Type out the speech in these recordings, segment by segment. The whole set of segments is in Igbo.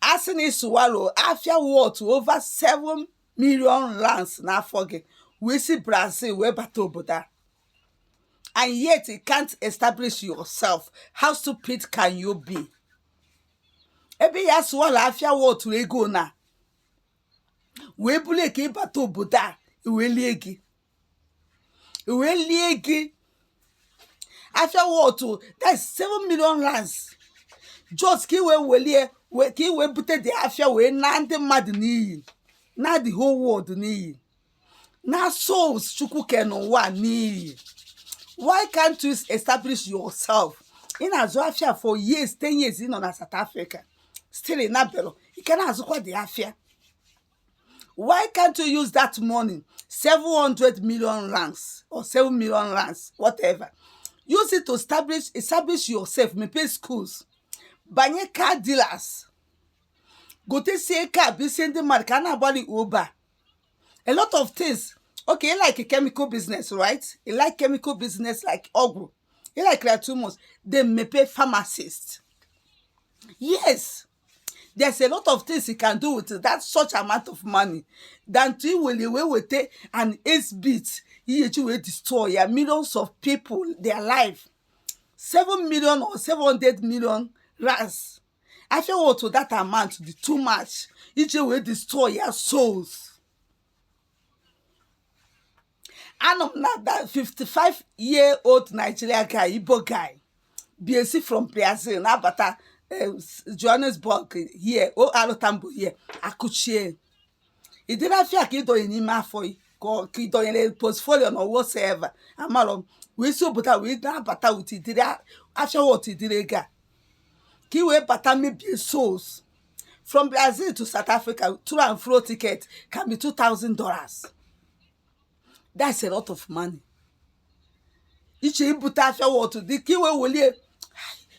a sị na ị swallow afịa worth over 7 million rands n'afọ gị wee si brazil wee bata obodo a and yet you can't establish yourself how stupid can you be ebe ya swallow afịa worth ego na wee bulie ka ị bata obodo a wee lie gị wee lie gị afịa worth that's seven million rands just ka i wee welie wee ka i wee bute the afịa wee na ndị mmadụ n'iyi na the whole world n'iyi na souls chukwu ke n'ụwa n'iyi why can't you establish yourself ị na-azụ afịa for years ten years ị nọ na south africa still ị nabelọ ị ka na-azụkwa the afịa why can't you use that money 700 million rands or 7 million rands whatever use it to establish establish yourself mepee schools banye car dealers gotesie car bụ isi ndị mmadụ ka a na-agbalị uber a lot of things okay you like a chemical business right you like chemical business like ọgwụ you like like too much then mepee pharmacist yes there's a lot of things you can do with that such amount of money than to iwere wee weta an eight bit ihe ji wee destroy ya millions of people their life seven million or seven hundred million rands afia otu that amount dị too much iji wee destroy ya souls anụ m na that 55 year old Nigeria guy Igbo guy bi esi from Brazil na-abata eh, s- Johannesburg here O.R. Tambo here akụchie ịdịrị afịa ka ị dọnye n'ime afọ gị ka ọ- ka ị dọnyere portfolio or whatsoever amarọ m wee si obodo a wee na-abata with ịdịrị a- afịa worth ịdịrị ego a ka ị wee bata mebie souls from brazil to south africa to and fro ticket can be two thousand dollars that's a lot of money iche ibute afịa worth dị ka i wee welie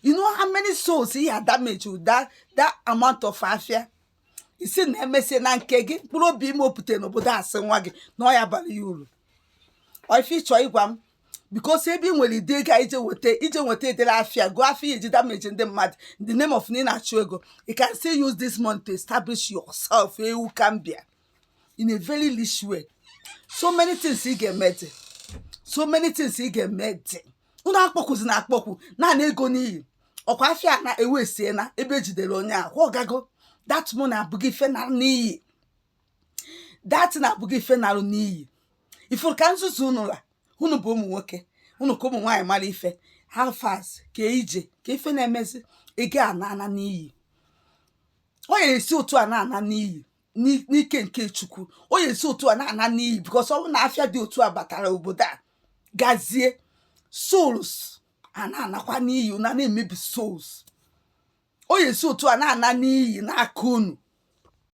you know how many souls he had damaged with that that amount of afịa ị sị na emesie na nke gị mkpụrụ obi ị mụpụte n'obodo a sị nwa gị na ọ ya-abara ya uru ọ ife ị chọ ịgwa m because ebe ị nwere ịdị ego i je weta i je weta ịdịrị afịa go afịa e ji damage ndị mmadụ in the name of na ị na-achụ ego you can still use this money to establish yourself nwoke m bịa in a very rich way so many things ị ga-eme dị so many things ị ga-eme dị unu akpọkwuzi na akpọkwu na-ana ego n'iyi ọkwa afịa na ewe sie na ebe e jidere onye ahụ ọ gago that money abụghị ife na n'iyi that thing abụghị ife nalụ n'iyi ị fụrụ ka nzuzu unu la unu bụ ụmụ nwoke unu ka ụmụ nwaanyị mara ife how far kee ije kee ife na-emezi ego a na-ana n'iyi ọ ya esi otu a na-ana n'iyi n'i- n'ike nke chukwu ọ ya esi otu a na-ana n'iyi because ọ bụ na afịa dị otu a batara obodo a gazie souls a na-anakwa n'iyi na na-emebi souls ọ ya esi otu a na-ana n'iyi n'aka unu